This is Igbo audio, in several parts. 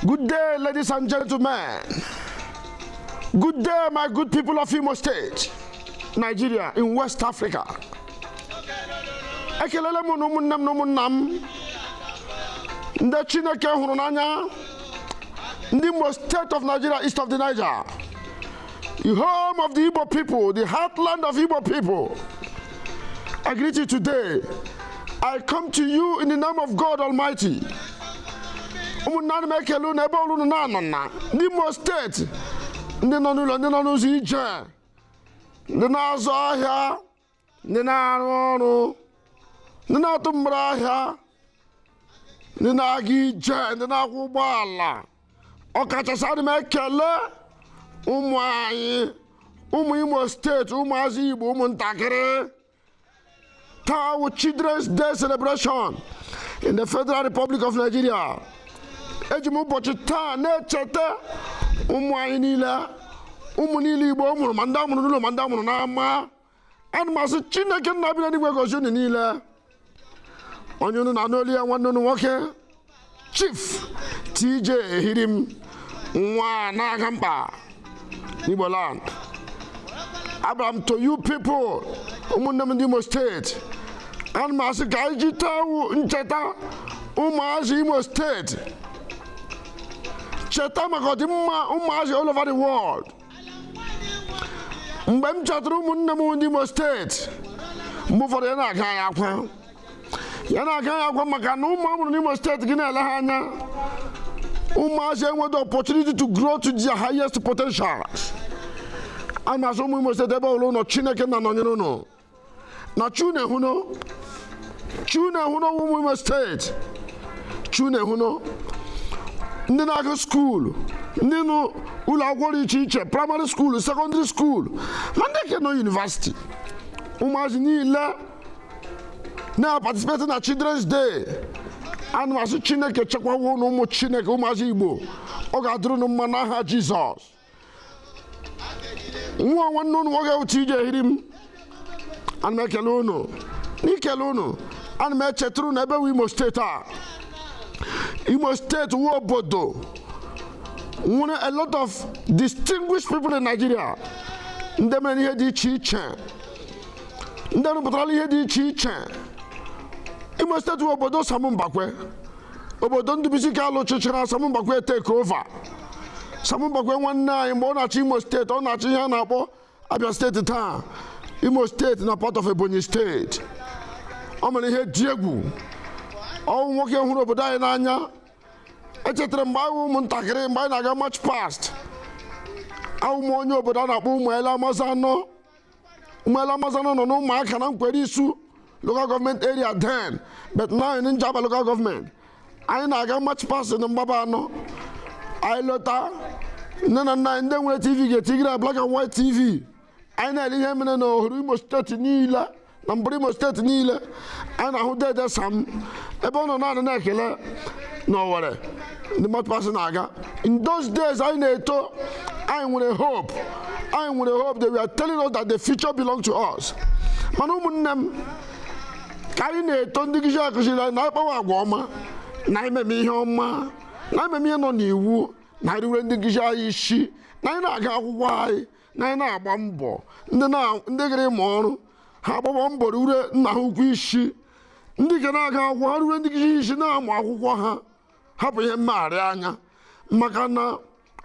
Good day, ladies and gentlemen. Good day, my good people of Imo State, Nigeria, in West Africa. Ekelele m unu ụmụnne m na ụmụnna m ndị Chineke hụrụ n'anya ndị Imo State of Nigeria, east of the Niger, the home of the Igbo people, the heartland of Igbo people. I greet you today. I come to you in the name of God Almighty. ụmụnna ana m ekele unu ebe ọwụla unu na-anọ na ndị Imo steeti ndị nọ n'ụlọ ndị nọ n'ụzọ ije ndị na-azụ ahịa ndị na-arụ ọrụ ndị na-atụ mgbere ahịa ndị na-aga ije ndị na-akwọ ụgbọala ọkachasị adị m ekele ụmụ anyị ụmụ imo steeti ụmụazị igbo ụmụntakịrị taa wụ children's day celebration in the federal republic of nigeria eji m ụbọchị taa na-echeta ụmụ anyị niile ụmụ niile igbo mụrụ ma ndị amụrụ n'ụlọ ma ndị amụrụ n'ama ana m asị chineke nna bi n'eluigwe gozi unu niile onye unu na-anụ olu ya nwanne unu nwoke chief tj ehirim nwa na-aga mkpa igbo land abịara m to you people ụmụnne m ndị imo steeti ana m asị ka anyị ji taa wụ ncheta ụmụazị imo steeti cheta maka ọdịmma ụmụazị all over the world mgbe m chetara ụmụnne m ndị Imo steeti mgbe ụfọdụ ya na-aga ya akwa ya na-aga ya akwa maka na ụmụ amụrụ n'Imo steeti gị na-ele ha anya ụmụazị enweta opportunity to grow to their highest potential ana m asị ụmụ Imo steeti ebe ọwụla ụnụ nọ Chineke na-anọnyere ụnụ na chunehuno chunehuno ụmụ imo steeti chunehuno ndị na-aga skuulu ndị nọ ụlọ akwụkwọ dị iche iche praịmarị skuulu sekọndịrị skuulu ma ndị ke nọ yunivasiti ụmụazị niile na-participate na children's day ana m asị chineke chekwawa unu ụmụ chineke ụmụazị igbo ọ ga-adịrị unu mma n'aha jizọs nwa nwanne ụnụ nwoke wụ TJ Ehirim ana m ekele ụnụ n'ikele ụnụ ana m echeturu ụnụ ebe wụ Imo steeti a Imo steeti wụ obodo nwere a lot of distinguished people in Nigeria ndị mere ihe dị iche iche ndị rụpụtara ihe dị iche iche Imo steeti wụ obodo Sam Mbakwe obodo Ndubisi Kalụ chịchara Sam Mbakwe take over Sam Mbakwe nwanne anyị mgbe ọ na-achị Imo steeti ọ na-achị ihe a na-akpọ Abia steeti taa Imo steeti na part of Ebonyi steeti ọ mere ihe dị egwu ọ wụ nwoke hụrụ obodo anyị n'anya echetara mgbe anyị wụ ụmụntakịrị mgbe anyị na-aga march past awụ m onye obodo a na-akpọ Ụmụele Amazanọ Ụmụele Amazanọ nọ n'ụmụaka na nkwere isu local government area then but now in Njaba local government anyị na-aga march past na Mgbabanọ anyị lọta nne na nna anyị ndị nwere tv ga-etigere ya black and white tv anyị na-ele ihe mere na ohuru imo steeti niile na mbụrụ imo steeti niile anyị na-ahụ deede sam ebe ọ nọ na-anara ekele na owere ndị march past na-aga in those days anyị na-eto anyị nwere hope anyị nwere hope they were telling us that the future belongs to us mana ụmụnne m ka anyị na-eto ndị nkụzi akụziri anyị na anyị kpawa agwa ọma na anyị meme ihe ọma na anyị meme ihe nọ n'iwu na anyị ruwere ndị nkụzi anyị isi na anyị na-aga akwụkwọ anyị na anyị na-agba mbọ ndị na- ndị gara ịmụ ọrụ ha agbaba mbọ ruwere nna ha ukwu isi ndị ga na-aga akwụkwọ ha ruwere ndị nkụzi isi na-amụ akwụkwọ ha hapụ ihe mmegharị anya maka na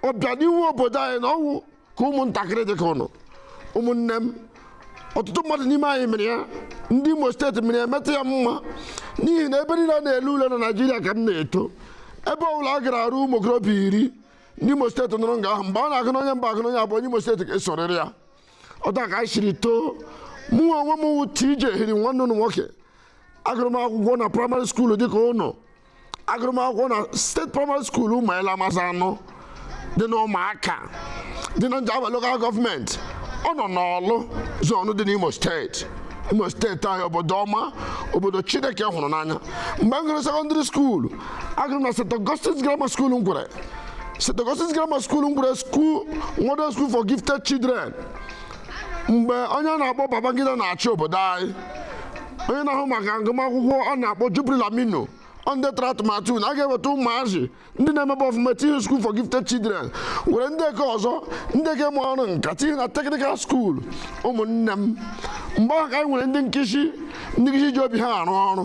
ọbịanihu obodo anyị na ọ wụ nke ụmụntakịrị dị ka ụnụ ụmụnne m ọtụtụ mmadụ n'ime anyị mere ya ndị imo steeti mere ya metụ ya mma n'ihi na ebe niile a na-ele ule na naijiria ka m na-eto ebe ọbụla a gara a hụ ụmụ okorobịa iri ndị imo steeti nọrọ nga ahụ mgbe a na-agụ n'onye mbụ agụ n'onye abụọ onye imo steeti ga-esorịrị ya otu a ka anyị siri too mụ onwe m wụ TJ Ehirim nwanne ụnụ nwoke agụrụ m akwụkwọ na praịmarị skuulu dịka ụnụ agụrụ m akwụkwọ na steeti praịmarị skuulu Ụmụele Amazanọ dị na ụmụaka dị na njaba lokal gọọmenti ọ nọ n'ọlụ zonu dị n'imo steeti imo steeti anyị obodo ọma obodo chineke hụrụ n'anya mgbe m gụrụ sekọndịrị skuulu agụrụ m na St. Augustine's Grammar School Nkwerre St. Augustine's Grammar School Nkwerre school model school for gifted children mgbe onye a na-akpọ Babangida na-achị obodo anyị onye na-ahụ maka agụmakwụkwọ a na-akpọ Jubril Aminu ọ ndị tụrụ atụmatụ na a ga-eweta ụmụazị ndị na-emebe ọfụma tinye school for gifted children were ndị nke ọzọ ndị nke ma ọrụ nka tinye na technical school ụmụnne m mgbe ahụ ka anyị nwere ndị nkụzi ndị nkụzi ji obi ha arụ ọrụ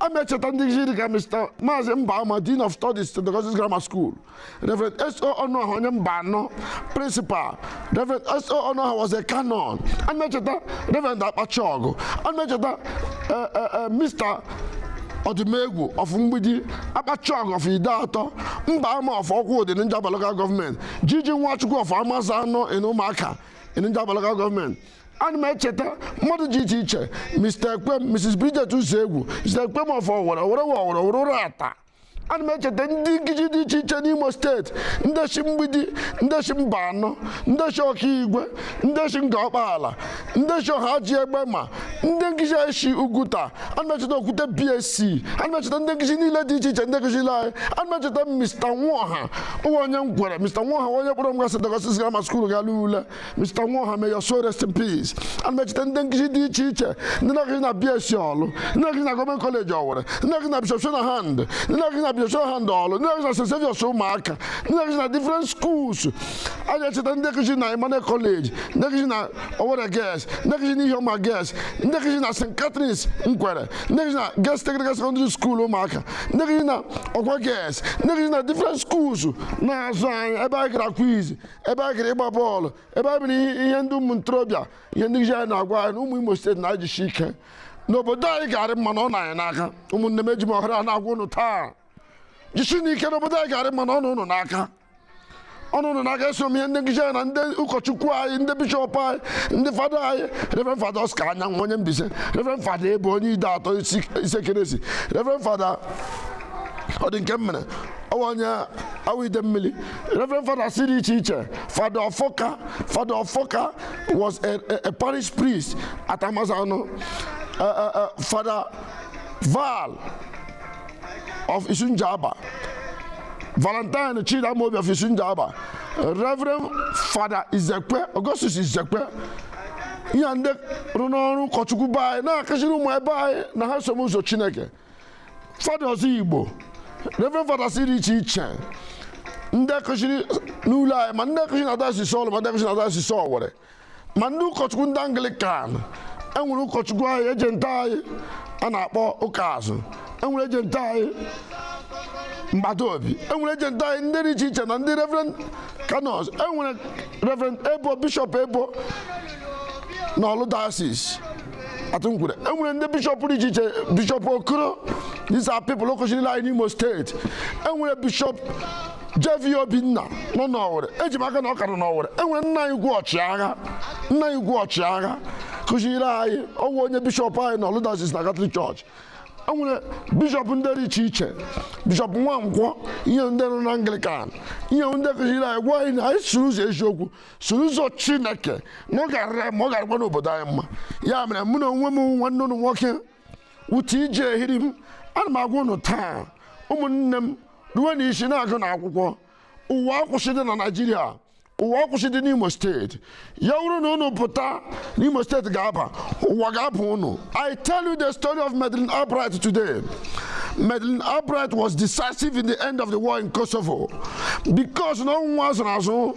a m echeta ndị nkụzi dịka Mr. Maazị Mbama Dean of Studies St. Augustine Grammar School Reverend S.O. Ọnụọha onye Mbanọ Principal Reverend S.O. Ọnụọha was a canon a m echeta Reverend Akpachiọgụ a m echeta eh, eh, eh, Mr. ọdịmegwu of mgbidi Akpachiọgụ of Ideatọ Mbama of Okwudọ n'Njaba local gọọmenti G.G. Nwachukwu of Amazanọ in ụmụaka in Njaba local gọọmenti ana m echeta mmadụ dị iche iche mr ekwem mrs bridget uzoegwu mr ekwem of owere owere wa owere owere uratta ana m echeta ndị nkụzi dị iche iche n'imo steeti ndị si mgbidi ndị si mbanọ ndị si okigwe ndị si ngọ ọkpaala ndị si ọhaji egbema ndị nkụzi anyị si uguta ana m echeta okwute bsc ana m echeta ndị nkụzi niile dị iche iche ndị kụziiri anyị ana m echeta mr nwaọha ọ wụ onye nkwere mr nwaọha onye kpọrọ m ga st augustine grammar skuul gara ule Mr. Nwoha may your soul rest in peace ana m echeta ndị nkụzi dị iche iche ndị na-akụzi na BSC Ọlụ ndị na-akụzi na gọọmenti kọleji ọwere ndị na-akụzi na Bishop Shanahan ndị na-akụzi na Bishop Shanahan Ọlụ ndị na-akụzi na St. Saviour's Umuaka ndị na-akụzi na different schools ana m echeta ndị nkụzi na Emmanuel College ndị nkụzi na Owerri Girls ndị nkụzi na Ihioma Girls ndị nkụzi na St. Catherine's Nkwere ndị nkụzi na Girls Technical Secondary School Umuaka ndị nkụzi na Ogwa Girls ndị nkụzi na different schools na-azụ anyị ebe anyị gara quiz ebe a gara ịgba bọọlụ ebe a bụrụ ihe ndị ụmụ ntorobịa ihe ndị anyị na-agwa anyị na ụmụ Imo steeti na-ajisi ike n'obodo anyị ga-arị mma na ọ nọ anyị n'aka ụmụnne m eji m ohere a na-agwa ụnụ taa jisienụ ike n'obodo anyị ga-arị mma na ọ nọ ụnụ n'aka ọ nọ ụnụ n'aka eso m ihe ndị nkụzi anyị na ndị ụkọchukwu anyị ndị bishọp anyị ndị fada anyị reverend fada Oscar Anyanwụ onye Mbaise reverend fada Ebo onye Ideatọ Isiekenesi reverend fada Ọdịnkemere ọ wụ onye Awo Idemili Reverend Fathers dị iche iche Father Ofoka Father Ofoka was a, a, a parish priest at Amazano uh, uh, uh, Father Val of Isunjaba Valentine Chidamobi of Isunjaba Reverend Father Izekwe Augustus Izekwe ihe ndị rụrụ ọrụ ụkọchukwu be anyị na-akụziri ụmụ be anyị na ha some ụzọ Chineke fada ozigbo reverend fadas dị iche iche ndị akụziri n'ụlọ anyị ma ndị akụziri na dayọsis ọlụ ma ndị akụziri na dayọsis ọwere ma ndị ụkọchukwu ndị anglikan enwere ụkọchukwu anyị ejenti anyị a na-akpọ ụkaazụ enwere ejenti anyị mgbata obi enwere ejenti anyị ndị dị iche iche na ndị reverend kanọns enwere reverend ebo bishọp ebo na ọlụ dayọsis at nkwere e nwere ndị bishọp dị iche iche bishọp okoro these are people akụziri anyị n'imo steeti e nwere bishọp JV Obinna nọ n'Ọwere eji m aka na ọ ka nọ n'Ọwere e nwere nna anyị ukwu ọchịagha nna anyị ukwu ọchịagha kụziri anyị ọ wụ onye bishọp anyị na ọlụ dayọsis na katọlik chọọchị e nwere bishọp ndị dị iche iche bishọp nwankwọ ihe ndị nọ na anglikan ihe ndị kụziri anyị gwa anyị na anyị soro ụzọ eziokwu so ụzọ chineke na ọ gara mma ọ garakwa n'obodo anyị mma ya mere mụ na onwe m nwanne ụnụ nwoke wụ TJ Ehirim ana m agwa ụnụ taa ụmụnne m ruo na isi na-agụ na akwụkwọ ụwa akwụsịdị na naijiria ụwa akwụsịdị n'imo steeti ya wụrụ na ụnụ pụta n'imo steeti ga-aba ụwa ga-aba ụnụ i tell you the story of Madeleine Albright today Madeleine Albright was decisive in the end of the war in Kosovo because na ọ wụ nwa a zụrụ azụ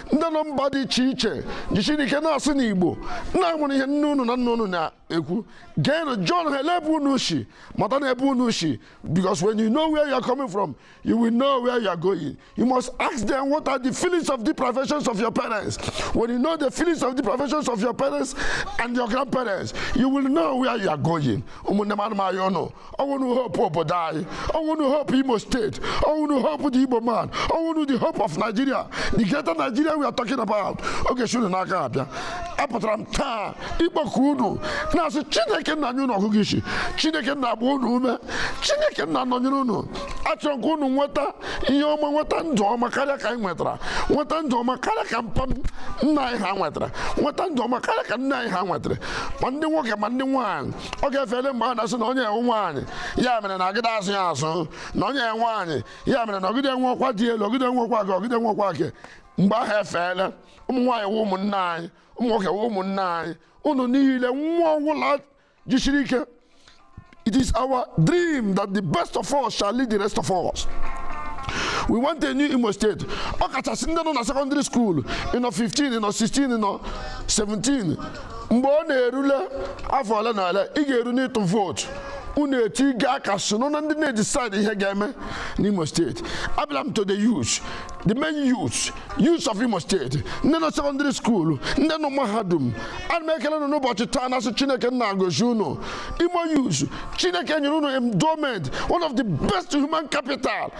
ndị nọ mba dị iche iche jisirinụ ike na-asụ igbo na enwere ihe nne unu na nna unu na-ekwu geenụ jụọnụ ha ele ebe unu si matanụ ebe unu si because when you know where you are coming from you will know where you are going you must ask them what are the feelings of the professions of your parents when you know the feelings of the professions of your parents and your grandparents you will know where you are going ụmụnne m ana m arịọ unu ọ wụ unu hope obodo anyị ọ wụ unu hope imo steeti ọ wụ unu hope the igbo man ọ wụ unu the hope of nigeria the greater nigeria we are talking about ọ ga-eshi unu n'aka abịa apụtara m taa ịkpọku unu na-asị chineke nna nye unu ọgụgụ isi chineke nna gbaa unu ume chineke nna nọnyere unu achọrọ m ka unu nweta ihe ọma nweta ndụ ọma karịa ka anyị nwetara nweta ndụ ọma karịa ka mpa nna anyị ha nwetara nweta ndụ ọma karịa ka nna anyị ha nwetara ma ndị nwoke ma ndị nwaanyị oge efele mgbe a na-asị na onye a wụ nwaanyị ya mere na agadị azụ ya azụ na onye a wụ nwaanyị ya mere na ọ gadị enwe ọkwa dị elu ọ gadị enwe ọkwa ka ọ gadị enwe ọkwa ke mgbe ahụ efeela ụmụ nwaanyị wụ ụmụnne anyị ụmụ nwoke wụ ụmụnne anyị unu niile nwa ọ wụla jisiri ike it is our dream that the best of us shall lead the rest of us we want a new imo steeti ọ kachasị ndị nọ na sekọndịrị skuulu ị nọ 15 ị nọ 16 ị nọ 17 mgbe ọ na-erule afọ ole na ole ị ga-eru n'ịtụ vootu unu etinye aka soro na ndị na-edisaịdị ihe ga-eme n'Imo steeti abịala m to the youth the main youth youth of Imo steeti ndị nọ sekọndịrị skuulu ndị nọ mahadum ana m ekele unu n'ụbọchị taa na-asị Chineke nna gozi unu Imo youth Chineke nyere unu endowment one of the best human capital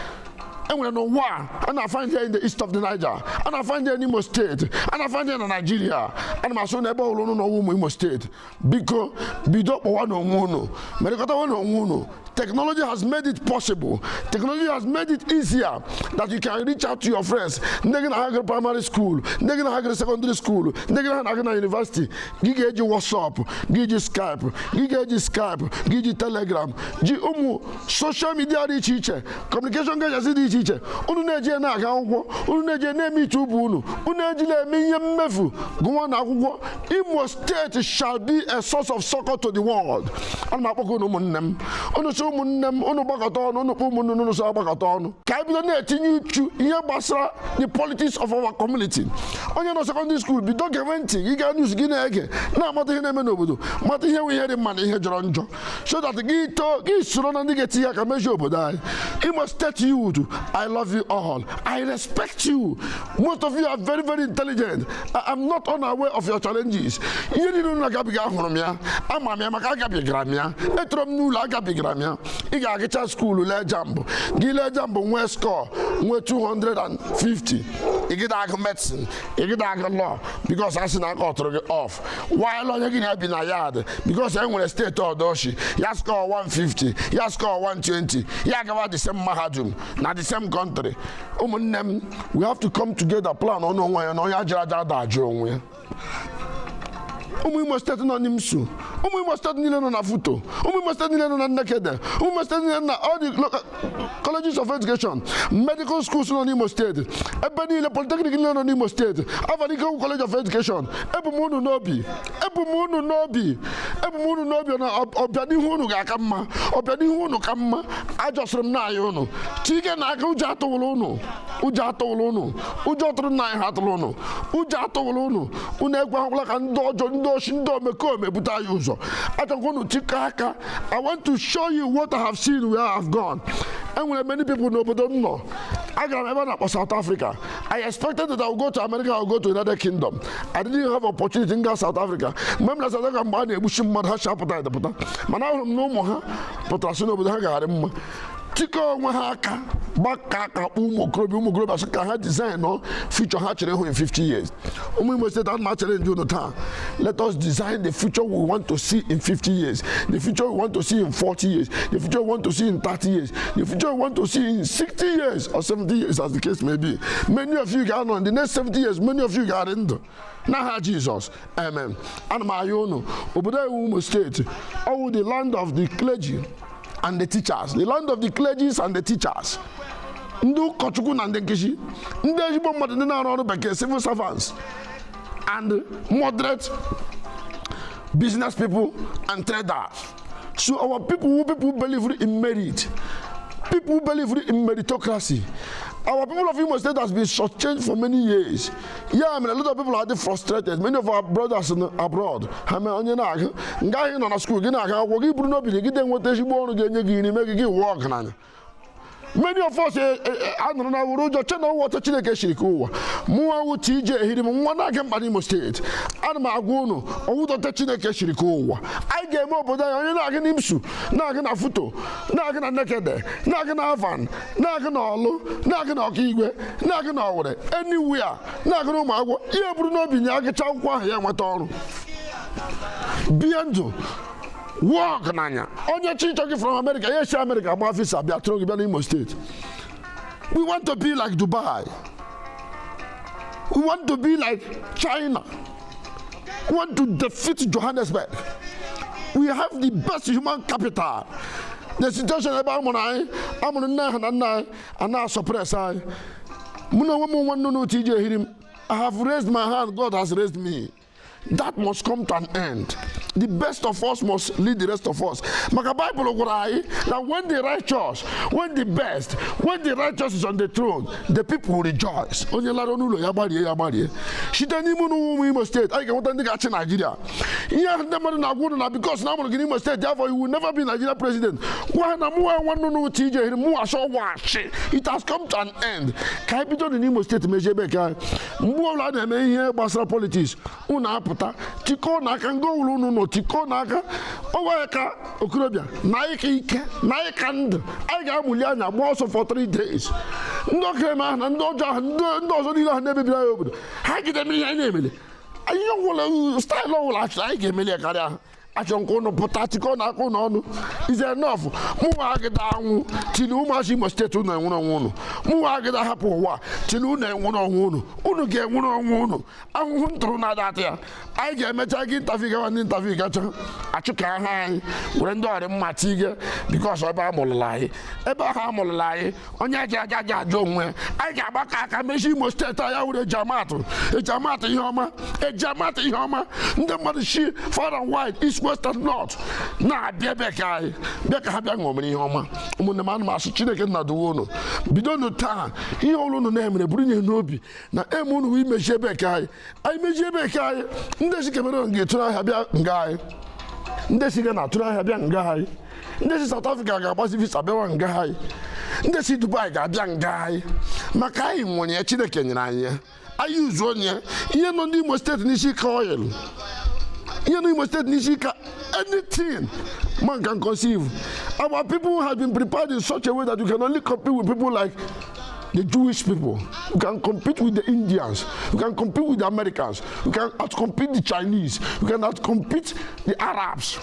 enwere n'ụwa a na-afaịndị ya in the east of the Niger a na-afaịndị ya n'Imo steeti a na-afaịndị ya na Naịjirịa ana m asị unu ebe ọ wụla unu nọ n'ụwa ụmụ Imo steeti biko bido kpọwanụ onwe unu merịkọtawanụ onwe unu Technology has made it possible. Technology has made it easier that you can reach out to your friends. Ndị gị na ha gara primary school, ndị gị na ha gara secondary school, ndị gị na ha na-aga na university. Gị ga-eji WhatsApp, gị ji Skype, gị ga-eji Skype, gị ji Telegram, ji ụmụ social media dị iche iche communication gadgets dị iche iche unu na-eji ya na-aga akwụkwọ unu na-eji ya na-eme iche ubu unu unu ejila eme ihe mmefu gụwanụ akwụkwọ imo steeti shall be a source of succor to the world ana m akpọkọ unu ụmụnne m unu sị ụmụnne m unu gbakọta ọnụ unu kpọ ụmụnne unu sị agbakọta ọnụ ka anyị bido na-etinye uchu ihe gbasara the politics of our community onye nọ secondary school bido gewe ntị gị gaa news gị na-ege na-amata ihe na-eme n'obodo mata ihe wụ ihe dị mma na ihe jọrọ njọ so that gị too gị soro na ndị ga-etinye aka mezie obodo anyị Imo State youth I love you all I respect you most of you are very very intelligent I am not unaware of your challenges ihe niile unu na-agabiga ahụrụ m ya ama m ya maka agabigara m ya etoro m n'ụlọ agabigara m ya ị ga-agacha school lee JAMB gị lee JAMB nwee score nwee 250 gị ada agụ medicine gị ada agụ law because a sị na a kọtụrụ gị off while onye gị na ya bi na yard because e nwere steeti ọdọ o shi ya score 150 ya score 120 ya gawa the same mahadum na the same country ụmụnne m we have to come together plan ọnụ onwe ya na onye a jụrụ ajụ ada ajụ onwe ya ụmụ imo steeti nọ n'imsu ụmụ imo steeti niile nọ na futo ụmụ imo steeti niile nọ na nekede ụmụ imo steeti niile nọ na all the local colleges of education medical schools nọ n'imo steeti ebe niile polytechnic niile nọ n'imo steeti alvan ikoku college of education ebu m unu n'obi ebu m unu n'obi ebu m unu n'obi na ọbịanihu unu ga-aka mma ọbịanihu unu ka mma ajọsịrị m n'anya unu chikọnụ aka ụjọ atụla unu ụjọ atụla unu ụjọ tụrụ nna anyị ha tụrụ unu ụjọ atụla unu unu ekwekwala ka ndị ọjọọ ndị oshi ndị omekome bute anyị ụzọ achọkwa unu chikọọ aka I want to show you what I have seen where I have gone. e nwere many people n'obodo m nọ agara m ebe a na-akpọ South Africa I expected that I would go to America or go to United Kingdom I didn't have opportunity m gaa South Africa mgbe m nọ South Africa mgbe a na-egbuchi mmadụ ha si apụta edepụta mana ahụrụ m na ụmụ ha pụtara sị na obodo ha ga-arị mma tikọ onwe ha aka gbakọọ aka kpọ ụmụ okorobịa ụmụ okorobịa sị ka ha designụọ future ha chọrọ ịhụ in 50 years ụmụ Imo steeti ana m achallenge unu taa let us design the future we want to see in 50 years the future we want to see in 40 years the future we want to see in 30 years the future we want to see in 60 years or 70 years as the case may be many of you ga-anọ in the next 70 years many of you ga-adị ndụ n'aha jizọs amen ana m ayọ unu obodo anyị wụ imo steeti ọ wụ the land of the clergy and the teachers the land of the clergies and the teachers ndị ụkọchukwu na ndị nkuzi ndị ezigbo mmadụ ndị na-arụ ọrụ bekee civil servants and moderate business people and traders So our people who people believe in merit, people who believe in meritocracy, our people of Imo State has been shortchanged for many years. Ya mere a lot of people are frustrated. Many of our brothers in, abroad, I mean, onye na-aga nga anyị nọ na skuul gị na-aga akwụkwọ gị buru n'obi gị gide nweta ezigbo ọrụ ga-enye gị nri mee gị gị wụọ ọgaranya many of us eh, eh, eh, anụrụ na wuru ụjọ che na ọ wụ otu chineke shiri kee ụwa mụnwa wụ tj ehirim nwa na-aga mkpa n'imo steeti ana m agwa unu ọ wụdị otu chineke shiri kee ụwa anyị ga-eme obodo anyị onye na-aga na imsu na-aga na futo na-aga na nekede na-aga na alvan na-aga na ọlụ na-aga na okigwe na-aga na owere anywhere na-aga na ụmụagwọ ya buru n'obi na ya gụcha akwụkwọ ahụ ya nweta ọrụ bie ndụ wuo ọgaranya onye chi chọ gị from America ya esi America gba visa bịa tụrụ gị bịa n'Imo steeti we want to be like Dubai we want to be like China we want to defeat Johannesburg we have the best human capital the situation ebe a mụrụ anyị a mụrụ nne anyị na nna anyị a na-asuppress anyị mụ na onwe m nwa nnụnụ TJ Ehirim I have raised my hand God has raised me that must come to an end the best of us must lead the rest of us maka bible gwara anyị na when the righteous when the best when the righteous is on the throne the people will rejoice onye lara n'ụlọ ya gbarie ya gbarie site n'ime ụlọ ụmụ imo steeti anyị ga-enweta ndị ga-achị naijiria ihe ahụ ndị mmadụ na-agwa unu na because na amụrụ gị n'imo steeti therefore you will never be nigeria president gwa ha na mụnwa nwa nnụnụ tj ehirim mụnwa sị wachị it has come to an end ka anyị bido dị n'imo steeti mezie ebe nke anyị mgbe ọbụla a na-eme ihe gbasara politiks unu apụta tikọọnụ aka nga ọbụla unu nọ tikọọnụ aka ọ wụ anyị ka okorobịa na anyị ka ike na anyị ka ndụ anyị ga-amụli anya gba ọsọ for three days ndị okereme ahụ na ndị ọjọọ ahụ ndị ọzọ niile ahụ na-emebiri anyị obodo ha agịda eme ihe anyị na-emeli ihe ọbụla style ọbụla achọrọ anyị ga-emeli ya karịa ha achọrọ m ka ụnụ pụta chịkọnụ aka ụnụ ọnụ is enough mụnwa agịda anwụ till ụmụazị imo steeti ụnụ enwere onwe ụnụ mụnwa agịda hapụ ụwa till ụnụ enwere onwe ụnụ ụnụ ga-enwere onwe ụnụ ahụhụ m tara ụnụ ada ata ya anyị ga-emecha gị interview gawa ndị interview gacha achụka ha anyị were ndị ọrị mma tige because ebe a mụrụla anyị ebe ahụ a mụrụla anyị onye ji aja ji ajụ onwe anyị ga-agbakọ aka mezie imo steeti anyị ewere eji amatụ eji amatụ ihe ọma eji amatụ ihe ọma ndị mmadụ si far and wide east west and north na-abịa ebe nke anyị bịa ka ha bịa ṅụmere ihe ọma ụmụnne m ana m asị chineke nna duwe unu bidonụ taa ihe ọwụla unu na-eme burunụ ya n'obi na aim unu wụ imezi ebe nke anyị anyị mezie ebe nke anyị ndị si cameroon ga-atụrụ ahịa bịa nga anyị ndị si ghana atụrụ ahịa bịa nga anyị ndị si South Africa ga-agbazi visa bịawa nga anyị ndị si Dubai ga-abịa nga anyị maka anyị nwere ya Chineke nyere anyị ya anyị uzu onye ihe nọ n'Imo steeti n'isi ike oil ihe nọ n'Imo steeti n'isi ike anything man can conceive our people have been prepared in such a way that you can only compete with people like the Jewish people. You can compete with the Indians. You can compete with the Americans. You can outcompete the Chinese. You can outcompete the Arabs.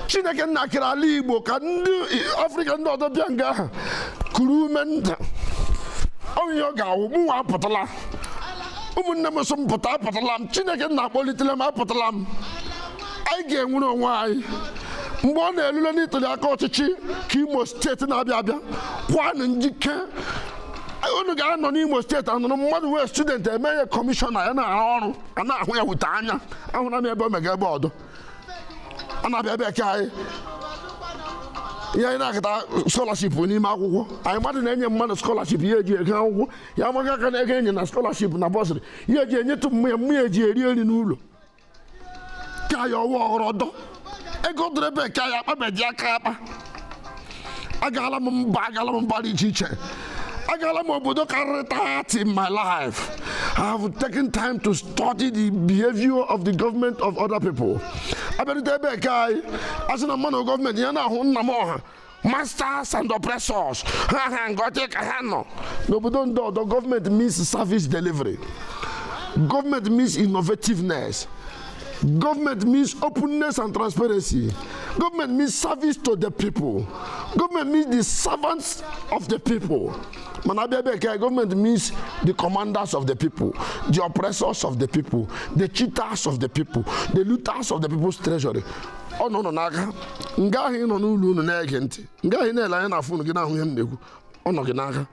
chineke nna kere ala igbo ka ndị afrịka ndị ọzọ bịa nga ahụ kuru ume nta onye ọ ga-awụ mụnwa apụtala ụmụnne m so m pụta apụtala m chineke nna akpọlitela m apụtala m anyị ga-enwere onwe anyị mgbe ọ na-elule ntuli aka ọchịchị ka imo steeti na-abịa abịa kwanụ njike unu ga-anọ n'imo steeti anụrụ mmadụ wụ student e mee ya kọmishọna ya na-arụ ọrụ a na-ahụ ya wute anya ahụra m ebe o mega ebe ọdọ a na-abịa ebe nke anyị ihe anyị na-akata skọlaship n'ime akwụkwọ anyị mmadụ na-enye mmadụ skọlaship ya eji eje akwụkwọ ya amaga aka n'ego e nye na skọlaship na bọsịrị ya eji enyetụ mma ya mma ya eji eri nri n'ụlọ ka ya ọwa ọghọrọ ọdọ ego dịrị ebe ka ya akpabeji aka akpa agala m mba agala m mba dị iche iche agala m obodo karịrị 30 in my life i have taken time to study the behavior of the government of other people abịarute ebe nke anyị a sị na mmanụ gọọmenti ya na-awụ nna m ọha masters and oppressors ha ha ngọtị ka ha nọ n'obodo ndị ọdọ gọọmenti means service delivery gọọmenti means innovativeness Government means openness and transparency. Government means service to the people. Government means the servants of the people. Mana abịa ebe nke government means the commanders of the people, the oppressors of the people, the cheaters of the people, the looters of the people's treasury. ọ nọ unu n'aka nga ahụ ị nọ n'ụlọ unu na-ege ntị nga ahụ ị na-ele anya na fon gị na-ahụ ihe m na-ekwu ọ nọ gị n'aka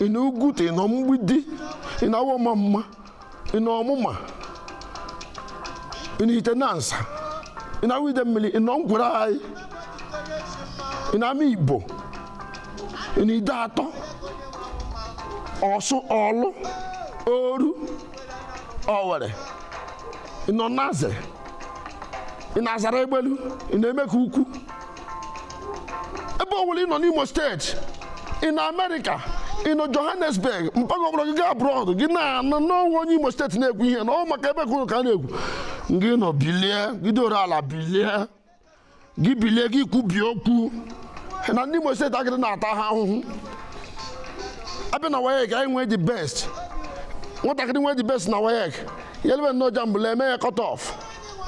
ị nọ uguta ị nọ mgbidi ị nọ awọ ọmamma ị nọ ọmụma ị nọ ihitenansa ị nọ awọ idemmiri ị nọ nkwerre anyị ị nọ amaigbo ị nọ ideatọ ọsụ ọlụ oru ọwere ị nọ naze ị nọ azara egbelu ị nọ emekukwu ebe ọ bụla ị nọ n'imo steeti ị nọ amerịka ị nọ johannesburg mpaghara ọbụla gị gaa abroad gị na-anụ na o nwe onye imo steeti na-ekwu ihe na ọ maka ebe kwuru ka a na-ekwu gị nọ bilie gị doro ala bilie gị bilie gị kwubie okwu na ndị imo steeti a gịrị na-ata ha ahụhụ abịa na waec anyị nwee the best nwatakịrị nwee the best na waec ya elebe nnọọ jamb a la-eme ya cut off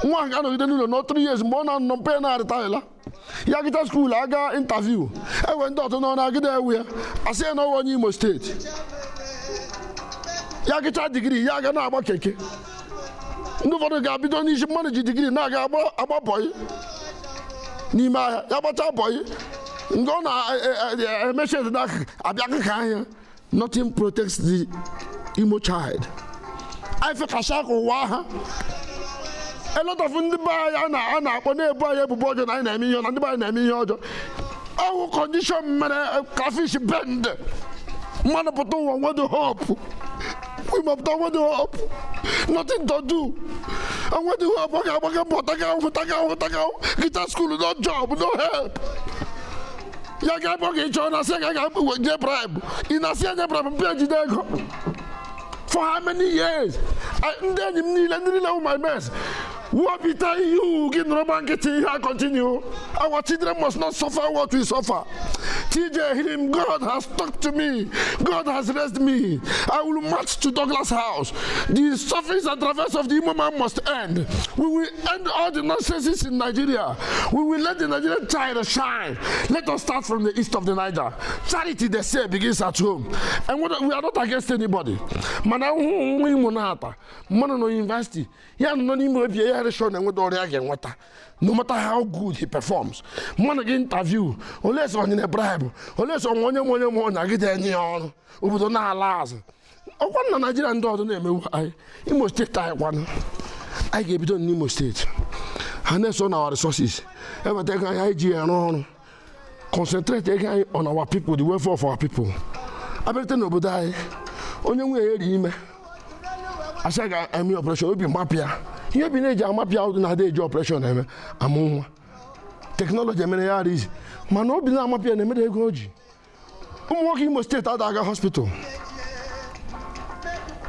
nwa ahụ ga-anọgide n'ụlọ nọ 3 years mgbe ọ na-anọ mpe na-arịtaghịla ya gụchaa skuul aga intaviu ewe ndị ọtụ nọ na-agịda ewe ya asị ya na ọ wụ onye imo steeti ya gụchaa digiri ya aga na-agba keke ndị ụfọdụ ga-abido n'isi mmadụ ji digiri na-aga agba bọyị n'ime ahịa ya gbachaa bọyị nke ọ na-emechi eze na abịa akụkọ ahịa nothing protects the Imo child anyị fekasịa ka ụwa ha a lot of ndị be anyị a na- a na-akpọ na-ebu anyị ebubo ọjọọ na anyị na-eme ihe na ndị be anyị na-eme ihe ọjọọ ọ wụ kọndishọn mere crayfish bend mmadụ pụta ụwa nwedo hopu nwa Imo pụta nwedo hopu nothing to do enwedo hopu ọ ga-agbaga mbọ taga ahụhụ taga ahụhụ taga ahụhụ gụchaa skuul no job no help ya ga-akpọ gị chọọ na sị ga ga-enye bribe ị na-asị enye bribe mpịa jide ego for how many years ndị enyi m niile ndị niile my mates wepụta ihe ugwu gị nọrọ gba nkịtị ihe a continue our children must not suffer what we suffer TJ him God has talked to me God has raised me I will march to Douglas house the sufferings and travails of the Imo man must end we will end all the nonsense in Nigeria. We will let the Nigerian child shine. Let us start from the east of the Niger. Charity, they say, begins at home. And we are not against anybody. Mana ụmụ Imo na-ata mmanụ na yunivasiti ya nọ n'ime obi ya reshọn enweta ọrụ a ga-enweta no matter how good he performs mmanụ gị interview olee sọ onye na bribe olee sọ onye ma onye ma onye agide enye ya ọrụ obodo na-ala azụ ọ kwa na naijiria ndị ọzọ na-emewu anyị imo steeti anyị kwanụ anyị ga-ebido n'imo steeti harness our resources eweta ego anyị ji arụ ọrụ concentrate ego anyị on our people the welfare of our people abịarute n'obodo anyị onye nwunye ya rị ime a sị ga-eme ọpụreshọn obi agbapụ ya ihe obi na-eji amapụ ya ụdị na-adị eji ọpụreshọn eme amụ nwa teknọlọji emere ya ọ rị easy mana obi na-amapụ ya na-emere ego o ji ụmụ nwoke imo steeti ada aga hospital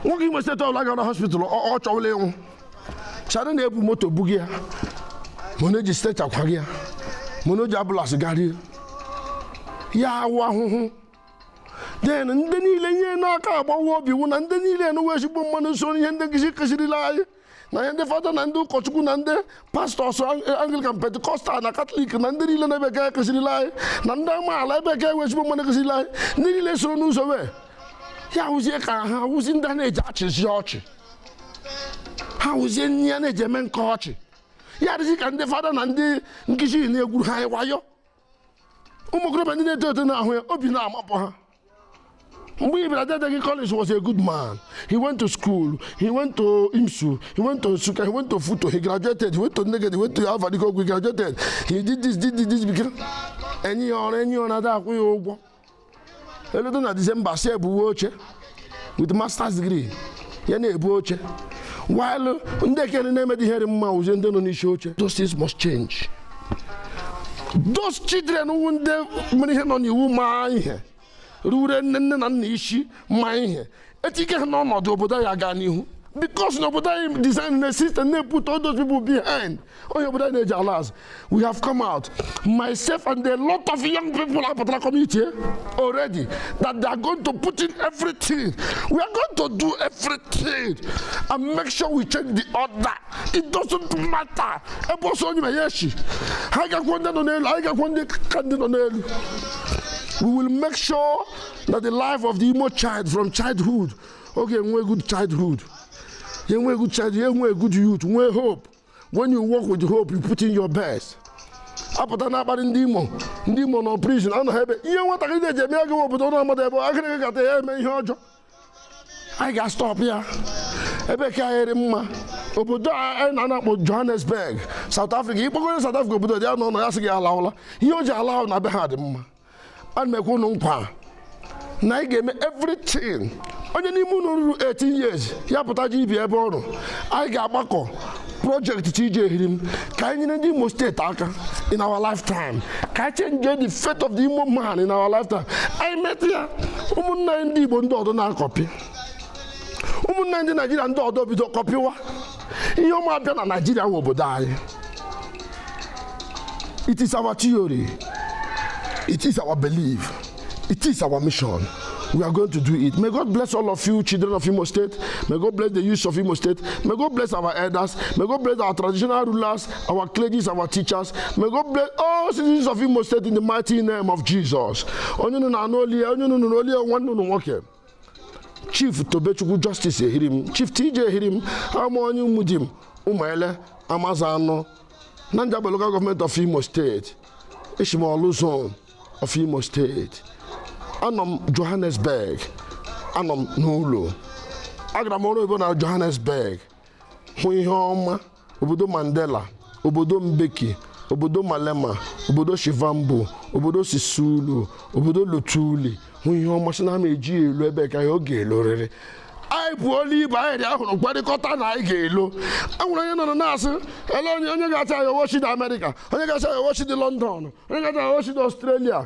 nwoke imo steeti ọbụla gara hospital ọ ọ chọwala ịnwụ chara na-ebu moto buga ya ma na-eji stretcher akwaga ya ma na-eji ambulance garie ya ọ wụ ahụhụ then ndị niile ihe na-aka agbawa obi wụ na ndị niile wụ ezigbo mmadụ so ihe ndị nkụzi kụzirila anyị na ihe ndị fada na ndị ụkọchukwu na ndị pastọs anglikan pentikọstal na katọlik na ndị niile na-ebe ka kụzirila anyị na ndị amaala ebe ka ị wụ ezigbo mmadụ kụzirila anyị ndị niile soro n'ụzọ wee ya hụzie ka ha wụzi ndị a na-eji achịzi ọchị ha wụzie ndị a na-eji eme nke ọchị ya dịzi ka ndị fada na ndị nkụzi na-egwuru ha anyị wayo ụmụ okorobịa ndị na-eto eto na-ahụ ya obi na-amapụ ha mgbe ị bịara dede gị college was a good man he went to school he went to imsu he went to nsukka he went to futo he graduated he went to nekede he went to alvan ikoku he graduated he did this did this did this became enye ya ọrụ enye ya ọrụ ada akwụ ya ụgwọ eludo na disemba si ebuwe oche with masters degree ya na-ebu oche while ndị ekene na-emedi ihe dị mma wụzie ndị nọ n'isi oche those things must change those children wụ ndị mere ihe nọ n'iwu ma ihe ruwere nne na nna isi ma ihe etinye ha n'ọnọdụ obodo ya gaa n'ihu because obodo anyị designed a system na-eput all those people behind onye obodo anyị na-eji ala azụ we have come out myself and a lot of young people apụtara community already that they are going to put in everything we are going to do everything and make sure we change the order it doesn't matter ebe ọsọ onye ma ya echi ha gakwuo ndị nọ n'elu anyị gakwuo ndị ka ndị nọ n'elu we will make sure that the life of the Imo child from childhood ọ ga-enwe good childhood ya enwe good childhood ya enwe good youth nwee hope when you work with hope you put in your best apụta na-akparị ndị Imo ndị Imo nọ prison anọ ha ebe ihe nwatakịrị na-eji eme agaghị obodo na amadụ ebe agụrụ gụkata ya eme ihe ọjọọ anyị ga-astọpụ ya ebe ke anyị dị mma obodo a anyị nọ a na-akpọ Johannesburg South Africa ịkpọgoro South Africa obodo dị ya na ụlọ ya sị gị alawala ihe o ji ala wụ na be ha dị mma ana m ekwe unu nkwa na anyị ga-eme everything onye n'ime unu ruru 18 years ya pụta ji ibi ebe ọrụ anyị ga-agbakọ project TJ Ehirim ka anyị nyere ndị Imo steeti aka in our lifetime ka anyị change the fate of the Imo man in our lifetime anyị meta ya ụmụnna anyị ndị Igbo ndị ọdọ na-akọpị ụmụnna anyị ndị Naijiria ndị ọdọ ebido kọpịwa ihe ọma abịa na naijiria nwe obodo anyị it is our theory it is our belief it is our mission we are going to do it may god bless all of you children of imo state may god bless the youth of imo state may god bless our elders may god bless our traditional rulers our clergies our teachers may god bless all citizens of imo state in the mighty name of jesus onye unu na-anụ olu ya onye unu nụrụ olu ya nwanne unu nwoke chief tobechukwu justice ehirim chief tj ehirim awụ m onye umudim ụmụele amazano na njaba local gọọmenti of imo steeti eshi m orlu zone of imo steeti anọ m johannesburg anọ m n'ụlọ agara m ọrụ oyibo na johannesburg hụ ihe ọma obodo Mandela obodo Mbeki obodo Malema obodo Shivambu obodo Sisulu obodo Lutuli hụ ihe ọma sị na ama eji ya elu ebe ka ya ọ ga-elorịrị anyị pụọla ibe anyị dị ahụrụ mkparịkọta na anyị ga-elo enwere onye nọrọ na-asị ele onye onye ga-achị ya owochi dị Amerịka onye ga-achị ya owochi dị London onye ga-achị ya owochi dị Ọstrelia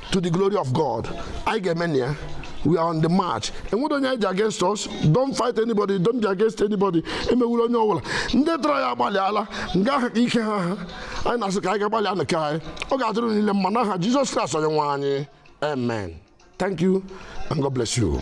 to the glory of God anyị ga-eme na ya we are on the march enwedụ onye anyị ji against us don't fight anybody don't be against anybody emewula onye ọbụla ndị tọrọ anyị agbalịala nga ahụ ka ike ha ha anyị na-asị ka anyị gaa gbalịanụ nke anyị ọ ga-adịrị unu niile mma n'aha Jizọs Kraịst onye nwe anyị amen thank you and God bless you